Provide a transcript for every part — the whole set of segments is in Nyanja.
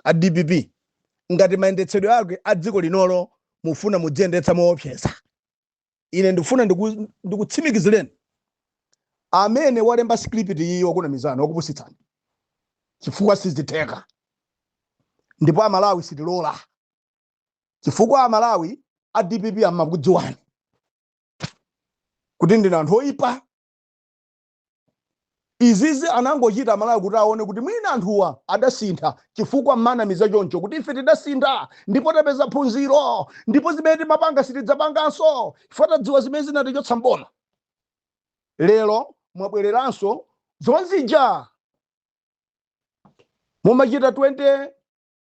a dpp ngati mayendetsedwe ake a dziko linolo mufuna mudziyendetsa moopseza ine ndikufuna ndiku- ndikutsimikizireni amene walemba script iyi wakunamizani wakupusitsani chifukwa sizitheka ndipo amalawi sitilola chifukwa amalawi a dpp amakudziwani kuti ndinu anthu oyipa Izizi anangochita Amalawi kuti aone kuti mwina anthuwa adasintha chifukwa mmawanamiza choncho kuti ife tidasintha ndipo tapeza phunziro ndipo zimene timapanga sitidzapanganso chifukwa tadziwa zimene zinatichotsa m'boma. Lero mwabwereranso zonzija mumachita 2014.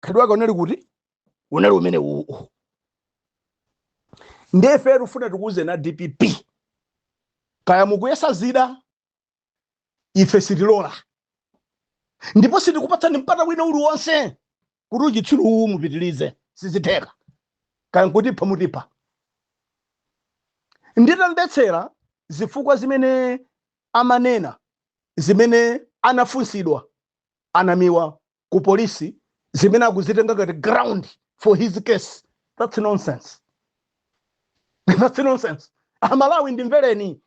khalidwe lake unali kuti unali umene uwu ndefe tufuna tikuuzeni a dpp kaya mukuyesa zida ife sitilola ndipo sitikupatsani mpata wina uliwonse kuti uchitsiru uwu mupitilize sizitheka kaya nkutipha mutipha nditamvetsera zifukwa zimene amanena zimene anafunsidwa anamiwa ku polisi zimene akuzitenga ngati ground for his case that's nonsense that's nonsense amalawi ndimvereni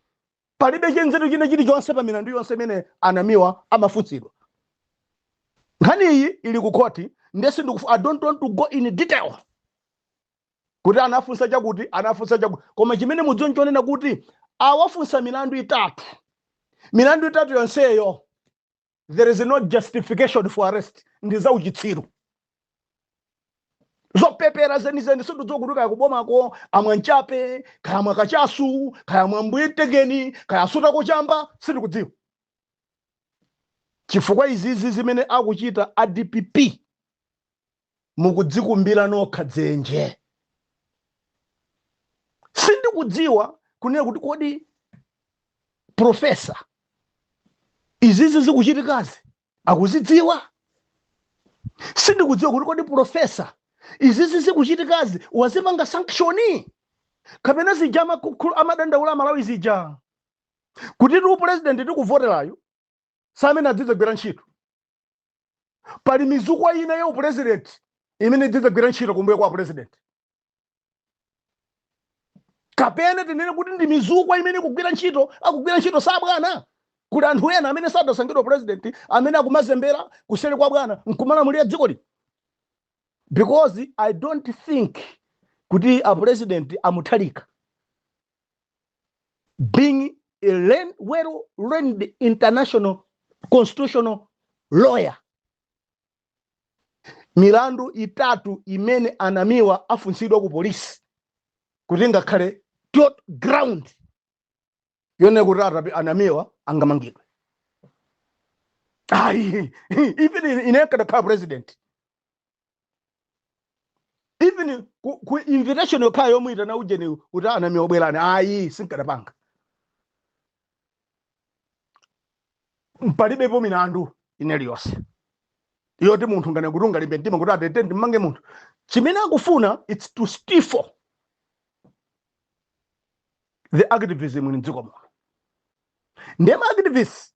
palibe chanzeru china chilichonse pa milandu yonse imene anamiwa amafunsidwa nkhani iyi ili ku khoti ndiye sindikufu i don't want to go in detail kuti anafunsa chakuti anafunsa chakuti koma chimene mudziwe nchoonena kuti awafunsa milandu itatu milandu itatu yonseyo there is no justification for arrest ndi za uchitsiru zopepera zenizeni sindidziwa kuti kaya kubomako amwa nchape kaya amwa kachasu kaya amwa mbwitegeni kaya asutako chamba sindikudziwa chifukwa izizi zimene akuchita adpp mukudzikumbira nokha dzenje sindikudziwa kunena kuti kodi profesa izizi zikuchitikazi akuzidziwa sindikudziwa kuti kodi profesa izizi zikuchitikazi wazipanga sanction kapena zija amakukhu- amadandaula amalawi zija kuti tu pulezidenti tikuvoterayu si amene adzidzagwira ntchito pali mizukwa ina ya upulezidenti imene idzidzagwira ntchito kumbuyo kwa apulezidenti kapena tinene kuti ndi mizukwa imene ikugwira ntchito akugwira ntchito si abwana kuli anthu ena amene sadasankhidwa pulezidenti amene akumazembera kuseri kwa bwana nkumalamulira dzikoli because i don't think kuti apulezidenti a mutharika being a learned, well learned international constitutional lawyer milandu itatu imene anamiwa afunsidwa ku polisi kuti ngakhale tot ground yonena kuti atapa anamiwa angamangidwe ayi even ine nkadakhala president even ku, ku invitation yokhayo yomuyitana ujeniyo kuti anamiwa bwerani ayi sinkadapanga palibepo milandu ina iliyonse yoti munthu ngane kuti ungalimbe mtima kuti atete ndimmange munthu chimene akufuna its to stifle the activism m'dziko muno ndema activists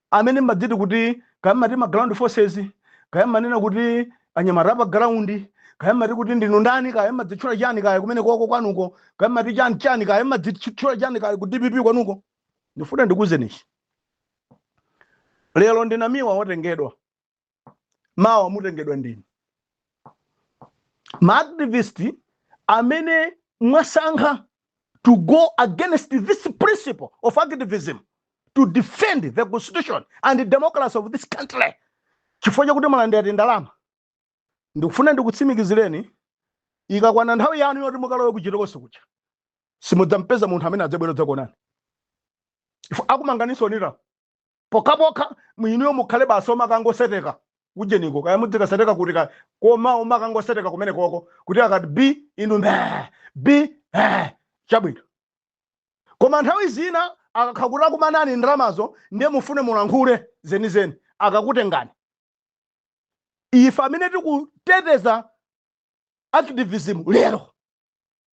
amene mmadziti kuti kaya mmati ma ground forces kaya mmanena kuti anyamata apa ground kaya mmati kuti ndinu ndani kaya mmadzitchula chani kaya kumene koko kwanuko kaya mmati chani chani kaya mmadzitchula chani kaya ku dpp kwanuko ndifuna ndikuuzeni ichi lero ndinamiwa watengedwa mawa mutengedwa ndinu maactivist amene mwasankha to go against this principle of activism to defend the constitution and the democracy of this country chifukwa chakuti mwalandira tindalama ndikufuna ndikutsimikizireni ikakwana nthawi yanu yoti mukalowe kuchitokosi kuja simudzampeza munthu amene adzabwere kudzakuonani ife akumanganiso onira pokhapokha mwina mukhale basi omakangoseteka ujeniko kaya mudzikaseteka kuti ka koma omakangoseteka kumene koko kuti akati b inu mbee b eh, chabwino koma nthawi zina akakhala kuti akumanani ndalamazo ndiye mufune mulankhule zenizeni akakutengani ife amene tikuteteza activism lero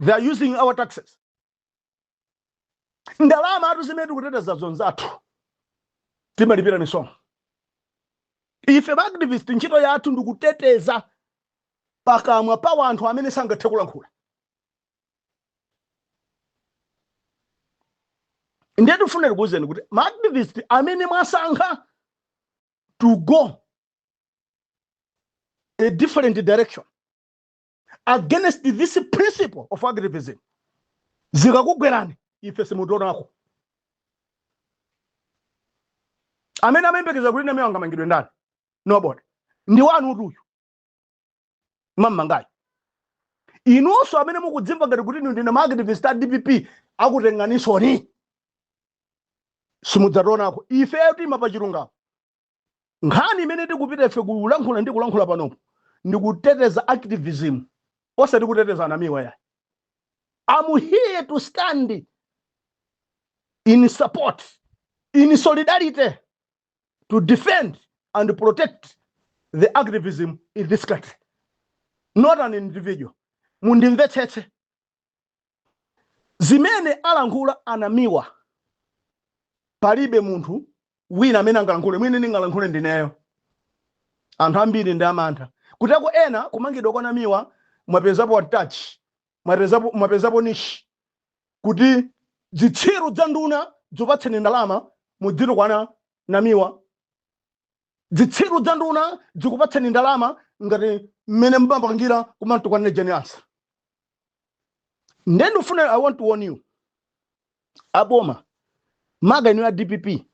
they are using our taxes ndalamatu zimene tikuteteza za anzathu timalipira misonkho ife maactivist ntchito yathu ndikuteteza pakamwa pa wanthu amene sangathe kulankhula ndiye tikufuna tikuwuzeni kuti maactivist amene mwasankha to go a different direction against this principle of activism zikakugwerani ife simutionako amene amayembekeza kuti namiwa angamangidwe ndani nobody ndi wanu uja uyo mwammangayo inunso amene mukudzimva ngati kuti ndinu maactivist a dpp akakutenganinsoni simudzationako ifeyo tima pa chilungamo nkhani imene tikupita ife kulankhula ndi kulankhula panopo ndikuteteza activism osati kuteteza anamiwa yayi am here to stand in support in solidarity to defend and protect the activism in this country not an individual mundimvetsetse Zimene alankhula a Namiwa palibe munthu wina amene angalankhule, mwina ndingalankhule ndineyo. Anthu ambiri ndi amantha. Kuti akuti ena kumangidwa kwa Namiwa mwapezapo touch? Mwapezapo, mwapezapo niche kuti dzitsiru dza nduna dzikupatseni ndalama mudzitukwana Namiwa. dzitsiru dza nduna dzikupatseni ndalama ngati mmene mumapangira kumamtukwanire jane ansah nde ndifuna i want to warn you aboma makaka inuyo a dpp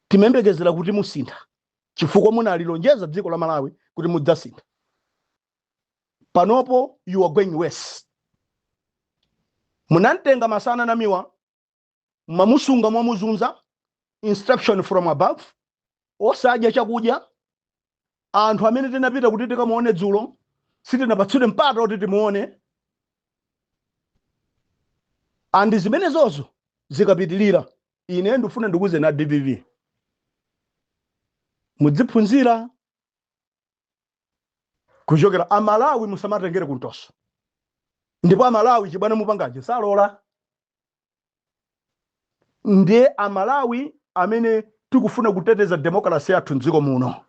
timayembekezera kuti musintha chifukwa munalilonjeza dziko la malawi kuti mudzasintha panopo you are going worse munamtenga masana namiwa mwamusunga mwamuzunza instruction from above osadya chakudya anthu amene tinapita kuti tikamuone dzulo sitinapatsidwe mpata kuti timuone andi zimenezozo zikapitirira ine ndifuna ndikuuzeni a dpp mudziphunzira kuchokera amalawi musamatengere kumtoso ndipo amalawi chibwana mupangaje salola ndiye amalawi amene tikufuna kuteteza demokrasi yathu mdziko muno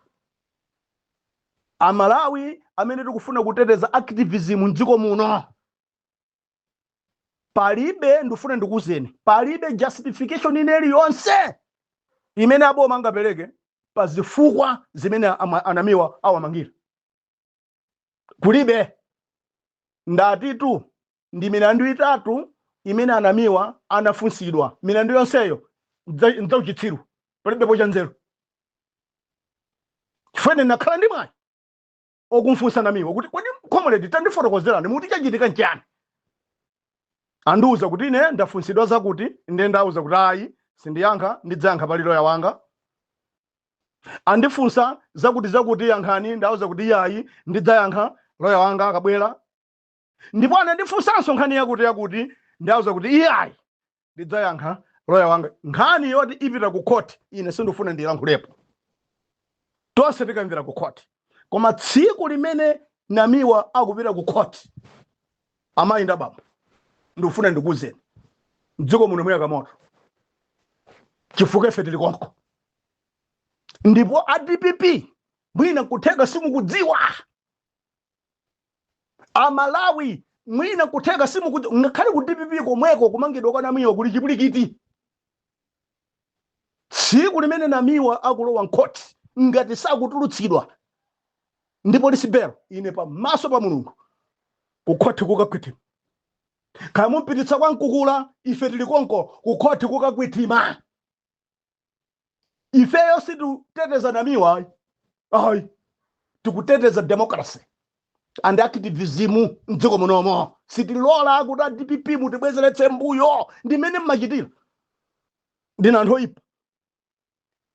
amalawi amene tikufuna kuteteza activism mdziko muno palibe ndifuna ndikuuzeni palibe justification ina iliyonse imene aboma angapereke pa zifukwa zimene ama- anamiwa awamangira kulibe ndatitu ndi milandu itatu imene anamiwa anafunsidwa milandu yonseyo ndza- ndzauchitsiru palibepo cha nzeru chifukwa ine ndakhala ndi mwayi okumfunsa namiwa kuti kodi comrade tandifotokozerani mukuti chachitika nchiyani andiuza kuti ine ndafunsidwa zakuti nde ndauza kuti ayi sindiyankha ndidzayankha pali loya wanga andifunsa zakuti zakuti yankhani ndawuza kuti iyayi ndidzayankha loya wanga akabwera ndipo anandifunsanso nkhani yakuti yakuti ndawuza kuti iyayi ndidzayankha loya wanga nkhani yoti ipita ku khoti ine sindifuna ndilankhulepo tonse tikamvera ku khoti koma tsiku limene namiwa akupita ku khoti amayi ndi abambo ndikufuna ndikuwuzeni mdziko muno muyaka moto chifukwa ife tili konko ndipo a dpp mwina nkutheka simukudziwa amalawi mwina nkutheka simukudziwa ngakhale ku dpp komweko kumangidwa kwa namiwa kuli chipulikiti tsiku limene namiwa akulowa mkhoti ngati sakutulutsidwa ndi polisi belo ine pamaso pa mulungu kukhoti kukakhwitima kaya mumpititsa kwa mkukula ife tili konko kukhoti kukakhwitima ifeyo sitikuteteza namiwa ayi ayi tikuteteza democracy and activism mdziko munomo sitilola kuti a dpp mutibwezeretse mbuyo ndi mmene mmachitira ndinu anthu oyipa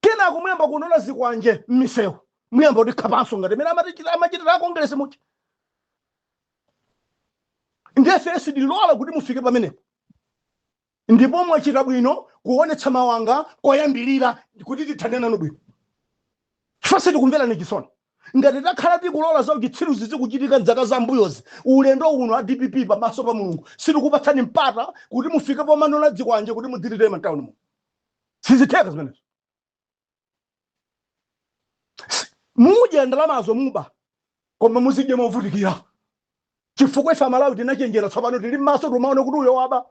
kenako muyamba kunola zikwanje mmisewu muyamba kutikhapanso ngati mene amatichita- amachitira a kongresi mu ndiye ifeyo sitilola kuti mufike pamenepo Ndipo mwachita bwino kuonetsa mawanga koyambilira kuti tithane nanu bwino chifukwa sitikumverani chisoni ngati takhala tikulola za uchitsiru zizichitika mzaka za mbuyozi. Ulendo uno a dpp pa maso pa Mulungu sitikupatsani mpata kuti mufike pomanola dzikwanje kuti mudzititema mtauni muno. Sizitheka zimenezo. mudya ndalamazo muba koma muzidya movutikira chifukwa ife amalawi tinachenjera tsopano tili m'maso timaona kuti uyo waba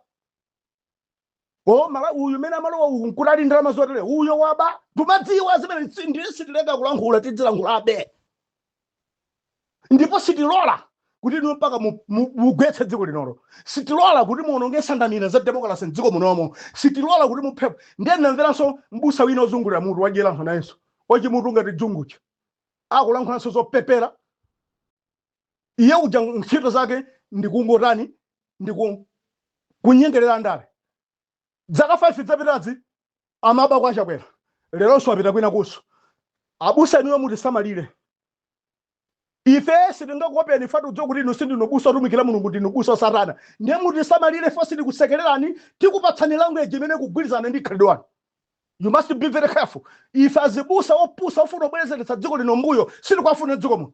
mmalawi mmene amalowa uyu nkutenga ndalama zotere uyo waba timadziwa zimenezi ndiye sitileka kulankhula tidzilankhulabe ndipo sitilola kuti inu mpaka mu- mu- mugwetse dziko linolo sitilola kuti muononge nsanamira za demokrasi mdziko munomo sitilola kuti muphe anthu ndiye ndinamvanso mbusa wina ozungulira mutu wadyeranso nayenso wachimutu ngati dzunguchi akulankhulanso zopepera iye uja ntchito zake ndikungotani ndikukunyengerera ndale dzaka 5 dzapitazi amaba kwa chakwera leronso wapita kwina kunso abusa inuyo mutisamalire ife sitingakopeni fatu tudziwa kuti inu sindinu mbusa otumikira mulungu ndinu mbusa wa satana ndiye mutisamalire ife sitikusekererani tikupatsani language imene ikugwirizana ndi khalidwe lanu you must be very careful ife azibusa opusa ofuna kubwezeretsa dziko lino mbuyo sitikuwafuna mdziko muno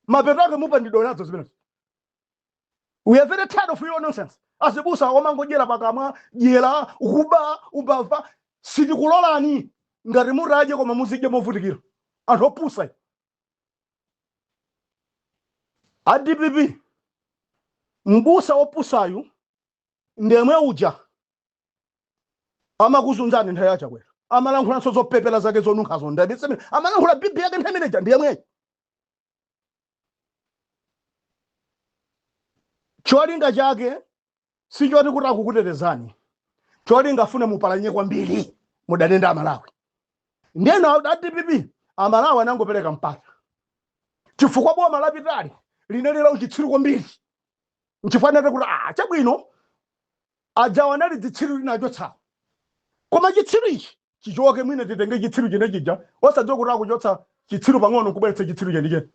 mapeto ake mupandidwa nazo zimenezo we are very tired of your nonsense azibusa omangodyera pakamwa dyera kuba umbava sitikulolani ngati mutadya koma muzidye movutikira anthu opusa inu. a dpp mbusa opusayu ndemwe uja amakuzunzani nthawi ya chakwera amalankhulanso zopepera zake zonunkhazo ndabiseme amalankhula bibi yake nthawi imeneja ndiyemweyo cholinga chake si choti kuti akukutetezani cholinga afune mupalanye kwambiri mudane ndi amalawi ndiye nawo a dpp amalawi anangopereka mpata chifukwa boma lapitali linali la uchitsiru kwambiri nchifukwa anati kuti ah chabwino ajawa anali dzitsiru linachotsawo koma chitsiru ichi chichoke mwina titenge chitsiru chine chija osadziwa kuti akuchotsa chitsiru pang'ono kubweretsa chitsiru chenicheni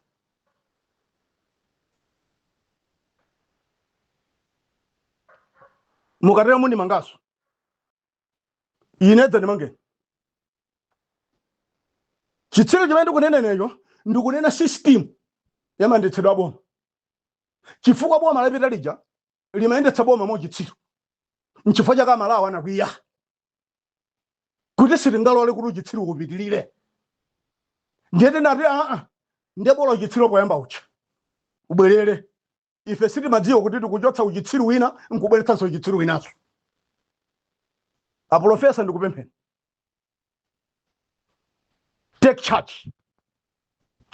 mukatera mundimanganso ine dzandimangeni chitsiru chimene ndikunenenecho ndikunena system yamandetsedwa boma chifukwa boma lapita lija limayendetsa boma mwa uchitsiru nchifukwa chake amalawi anakwiya kuti sitingalole kuti uchitsiru upitirire ndiye tinati aa ndiye bola uchitsiru poyamba uja ubwerere ife sitimadziwa kuti tikuchotsa uchitsiru wina nkubweretsanso uchitsiru winanso apolofesa ndikupempheni take charge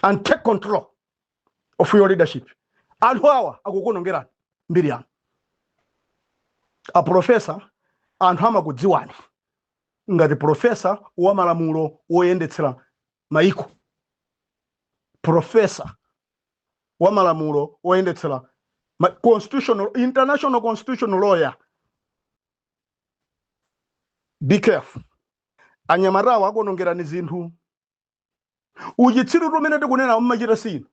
and take control of your leadership anthu awa akukuonongerani mbiri yanu apolofesa anthu amakudziwani ngati profesa wa malamulo woyendetsera maiko profesa wa malamulo woyendetsera ma- constitutional international constitutional lawyer be careful anyamatawo akuonongerani zinthu uchitsiru tumene tikunena mmachita sinu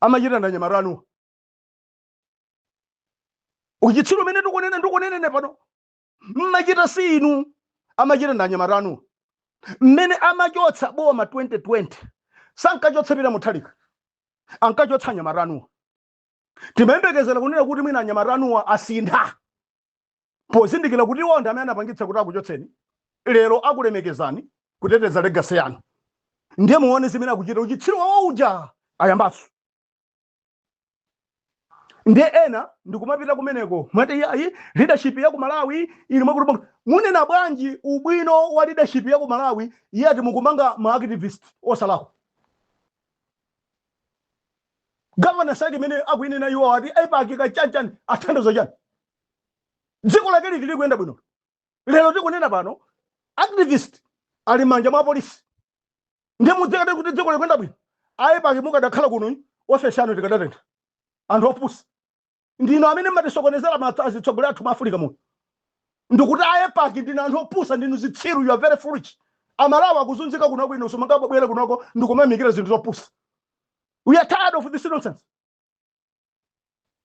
amachita na anyamata anuwa uchitsiru umene tikunena ndikunenene pano mmachita sinu amachita na anyamata anuwa mmene amachotsa boma 2020 sankachotsa pita muthalika ankachotsa anyamata anuwa timayembekezera kunena kuti mwina anyamata anuwa asintha pozindikira kuti iwo ndi amene anapangitsa kuti akuchotseni lero akulemekezeni kuteteza legasi yanu ndiye muone zimene akuchita uchitsiru wawo uja ayambanso ndiye ena ndikumapita kumeneko mwati iyayi leadership ya ku malawi ili mwakuti munena bwanji ubwino wa leadership ya ku malawi iye ati mukumanga ma activist osalakwa Governance height imene akuinena iwowo ati aipaki chani chani athandizo chani dziko lake liti likuyenda bwino lero tikunena pano activist ali mmanja mwa polisi ndiye mudzikati kuti dziko likuyenda bwino aipaki mukadakhala kuno ofesi yanu tikadatentha anthu opusa ndinu amene mmatisokonezera maso azitsogoleri athu mu africa muno ndikuti aipaki ndinu anthu opusa ndinu zitsiru you are very foolish amalawi akuzunzika kunoko inu simungabwere kunoko ndikumamikira zinthu zopusa we are tired of this nonsense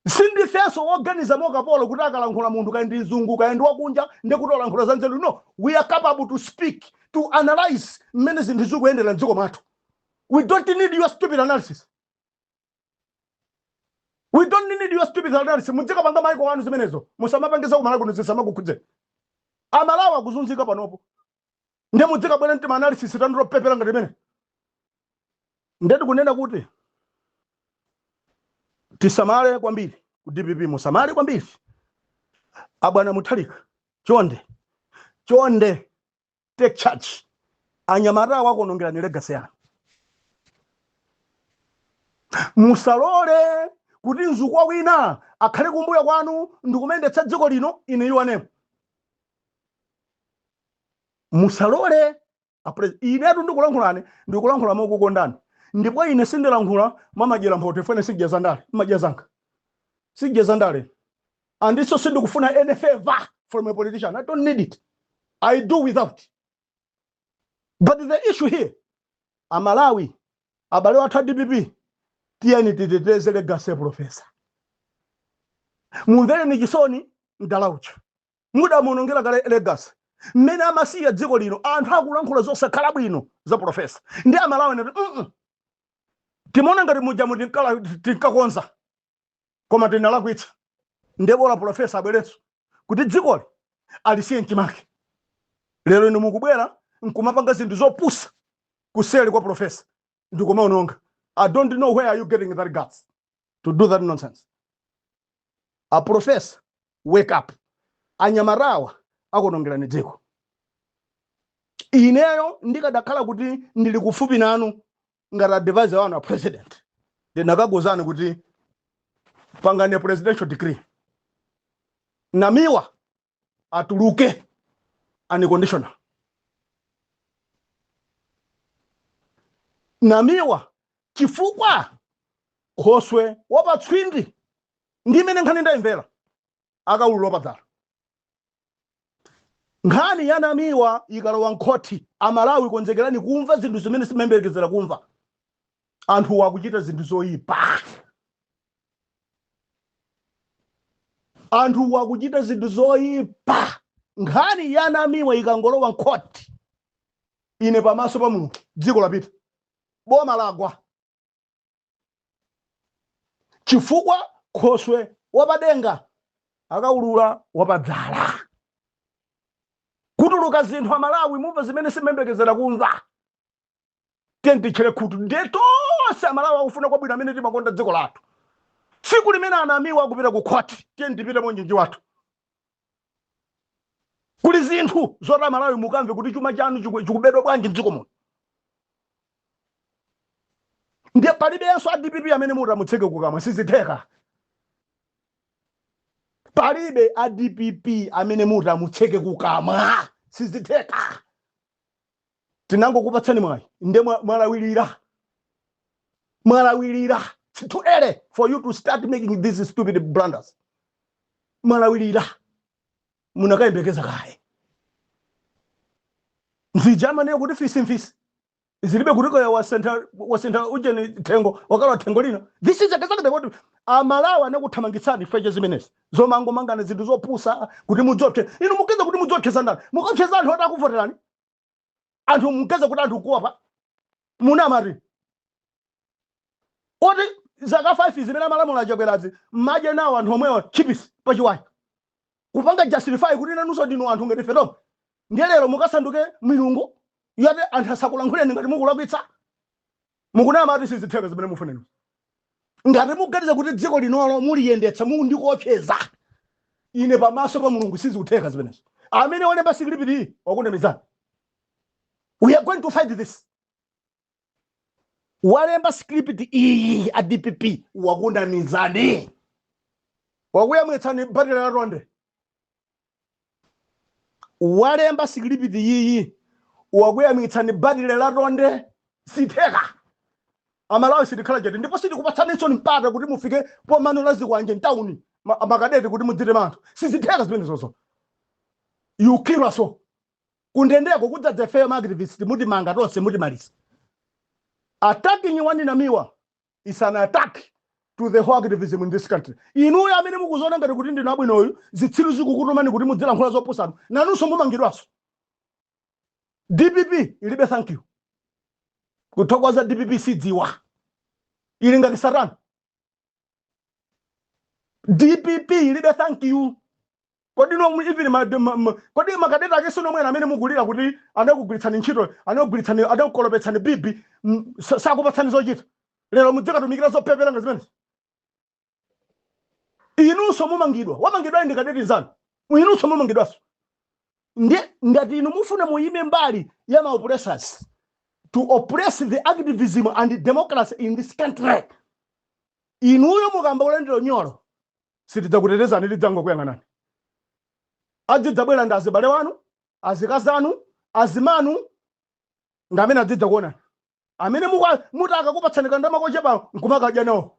sindifenso woganiza mokapolo kuti akalankhula munthu kaya ndi mzungu kaya ndi wakunja ndi kuti walankhula za nzeru no we are capable to speak to analyze mmene zinthu zikuyendera mdziko mwathu we don't need your stupid analysis we don't need your stupid alliance mudzikapanga maiko anu zimenezo musamapange za kumalawi kuno zisamakukhudzeni amalawi akuzunzika panopo nde mudzikabwera mtima analysis tanu topepera ngati imene nde tikunena kuti tisamale kwambiri ku dpp musamale kwambiri abwana muthalika chonde chonde take charge anyamatawa akuonongerani legacy yanu musalole kuti mzukwa wina akhale kumbuyo kwanu ndikumayendetsa dziko lino inu muli momwemo musalole apre- inetu ndikulankhulani ndikulankhula mokukondani ndipo ine sindilankhula mwamadyera mphoto ifene sindidya zandale ndimadya zanga sindidya zandale Andinso sindikufuna any favour from a politician. I don't need it. I do without. But the issue here, Amalawi, abale wathu a DPP, tiyeni titeteze legacy ya profesa. Mumvereni chisoni mdala uja. Mudamuonongera kale legacy. Mmene amasiya dziko lino, anthu akulankhula zosakhala bwino za profesa. Ndi Amalawi nati, mm timaona ngati muja muti mukakonza. koma tinalakwitsa ndebola profesa abwerenso kuti dzikoli alisiye mchimake lero inu mukubwera nkumapanga zinthu zopusa kuseli kwa profesa ndikumaononga i don't know where are you getting that guts to do that nonsense a profesa wake up anyamatawa akuonongerani dziko ineyo ndikadakhala kuti ndili kufupi nanu ngati advisor wanu a president ndikanakuuzani kuti pangani presidential decree namiwa atuluke unconditional namiwa chifukwa khoswe wapatswindi ndi mmene nkhani ndayimvera akaulula wapadzala. Nkhani ya Namiwa ikalowa m'khoti, Amalawi konzekerani kumva zinthu zimene simumayembekezera kumva. Anthuwa akuchita zinthu zoipa. Anthuwa akuchita zinthu zoipa. Nkhani ya Namiwa ikangolowa m'khoti, ine pamaso pa Mulungu dziko lapita, boma lagwa. chifukwa khoswe wapadenga akaulula wapadzala kutuluka zinthu amalawi mumva zimene simumayembekezera kumva tiyeni titchere khutu ndiye tonse amalawi akufuna kwabwino amene timakonda dziko lathu tsiku limene anamiwa akupita ku khoti tiyeni tipite mwaunyinji wathu kuli zinthu zoti amalawi mukamve kuti chuma chanu chiku- chikubedwa bwanji mdziko muno ndiye palibenso a dpp amene muti amutseke kukamwa sizitheka palibe a dpp amene mutamutseke kukamwa sizitheka tinangokupatsani mwayi nde mwalawirira mwalawirira too early for you to start making these stupid blunders mwalawirira munakayembekeza kaye nchifukwa amanena kuti fisi mfisi zilibe kuti kaya wasintha wasintha ujeni thengo wakhala thengo lina this is exactly what amalawi anakuthamangitsirani nkhani zimenezi zomangomangana zinthu zopusa kuti mudziopsa inu mukuyesa kuti mudziopseza ndani mukuopseza anthu oti akuvoterani anthu mukuyesa kuti anthu akuopa munamati oti zaka 5 zimene amalamula achakwerazi mmadya nawo anthu omwewa chipisi pachiwaya kupanga justify kuti nanunso ndinu anthu ngati ife tomwe ndiye lero mukasanduke milungu yoti anthu asakulankhuleni ngati mukulakwitsa Mukunamatu sizitheka zimene mukunenazo ngati mukuganiza kuti dziko linoli muliyendetsa mukundikopseza ine pamaso pa mulungu sizikutheka zimenezo amene walemba sikilipiti iyi wakunamizani we are going to fight this walemba sikilipiti iyi a dpp wakunamizani wakuyamwitsani batire la tonde walemba sikilipiti iyi wakuyamwitsani batire la tonde sizitheka amalawi sitikhala chete ndipo sitikupatsaninso mpata kuti mufike pomanola zikwanje mtawuni makadeti kuti mudzitema anthu sizitheka zimenezo you kill us all kundendeko kudzadza ifeyo maaktivist mutimanga tonse mutimaliza attacking one namiwa is an attack to the whole activism in this country inuyo amene mukuziona ngati kuti ndinu abwinonu zitsiru zikukutumani kuti mudzilankhula zopusanu nanunso mumangidwanso dpp ilibe thank you kuthokoza dpp sidziwa ili ngati satana dpp ilibe thank you Kodi nomwe even ma, ma, ma, kodi makadeti ake sinomwenu amene mukulira kuti anakugwiritsani ntchito anakugwiritsani anakukolopetsani bibi mm, sa- sakupatsani zochita lero mudzikatumikira zopepera ngati zimenezi inunso mumangidwa wamangidwa ndi kadeti nzanu inunso mumangidwanso ndi ngati inu mufuna muyime mbali ya ma oppressors to oppress the activism and democracy in this country inuyo muyamba kulandira unyolo sitidzakutetezani tidzangokuyang'anani adzidzabwera ndi azibale wanu azikazanu azimanu ndi amene adzidza kuonani amene mukwa- muti akakupatsani kandama kochepa nkumakadya nawo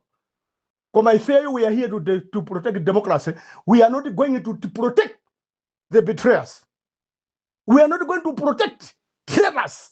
koma ifeyo we are here to, de- to protect democracy we are not going to, to protect the betrayers we are not going to protect traitors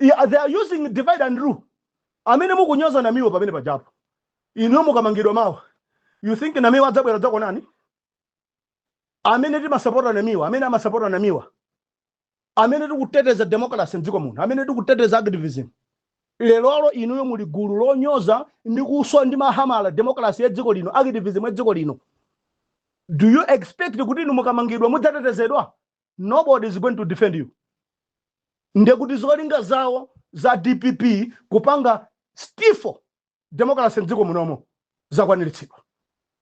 Yeah, they are using divide and rule amene mukunyoza namiwa pamene pajapo inuyo mukamangidwa mawa you think namiwa adzabwera dzakuonani amene timasapota namiwa amene amasapota namiwa amene tikuteteza democracy mdziko muno amene tikuteteza activism lerolo inuyo muli gulu lonyoza ndi kuswa ndi mahamala democracy ya dziko lino activism ya dziko lino do you expect kuti inu mukamangidwa mudzatetezedwa nobody is going to defend you ndekuti zolinga zawo za dpp kupanga stifle democracy mdziko munomo zakwaniritsidwa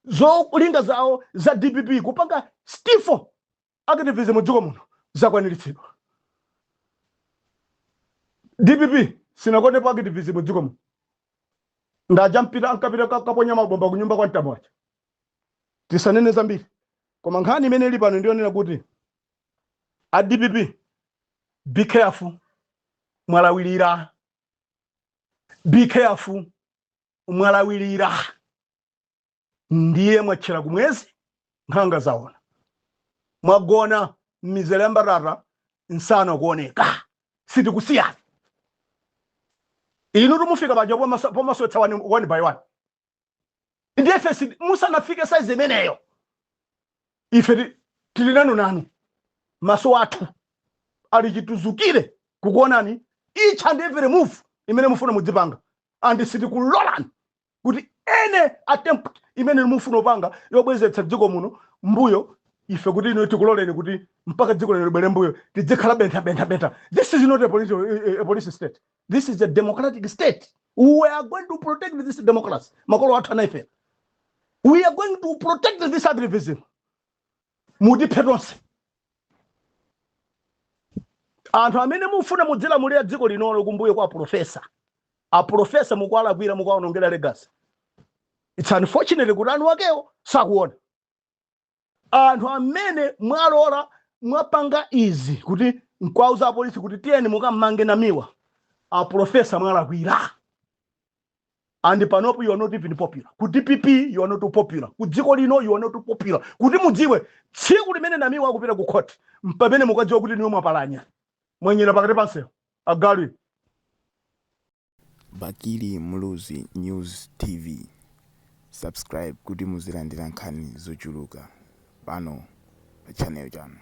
zolinga zawo za dpp kupanga stifle activism mdziko muno zakwaniritsidwa dpp sinakondepo activism mdziko muno ndaja ankapita ka- kaponya mabomba kunyumba kwa mtambo aja tisanene zambiri koma nkhani imene ili pano ndiyonena kuti a dpp be careful mwalawirira be careful mwalawirira ndiye mwatchera kumwezi nkhanga zaona mwagona mmizere ya mbatata nsana kuoneka sitikusiyani inu tumufika paja pomaswetsa one, one by one ndiye ife si- musanafike saizi imeneyo ife ti- tili nanu nanu maso athu ali chituzukire kukuonani each and every move imene mufuna mudzipanga and sitikulolani kuti any attempt imene mufuna kupanga yobwezeretsa dziko muno mbuyo ife kuti inu tikuloleni kuti mpaka dziko lino libwere mbuyo tidzikhala bentha bentha bentha this is not a police, a, a police state This is a democratic state. We are going to protect this democracy. Makolo athu anaifera. We are going to protect this activism. Mutiphe tonse. Anthu amene mufuna mudzilamulira dziko linolo kumbuyo kwa profesa. A profesa mukuwalakwira mukuwaonongera legacy. It's unfortunate kuti ana akewo sakuona. anthu amene mwalora mwapanga izi kuti nkwauza apolisi kuti tiyeni mukammange namiwa aprofesa mwalakwira and panopo you are not even popular ku dpp you are not popular ku dziko lino you are not popular kuti mudziwe tsiku limene namiwa akupita ku court mpamene mukadziwa kuti iwe mwapalamula mwanyera pakati pansewu agalu Bakili Muluzi News TV subscribe kuti muzilandira nkhani zochuluka pano pa channel chanu.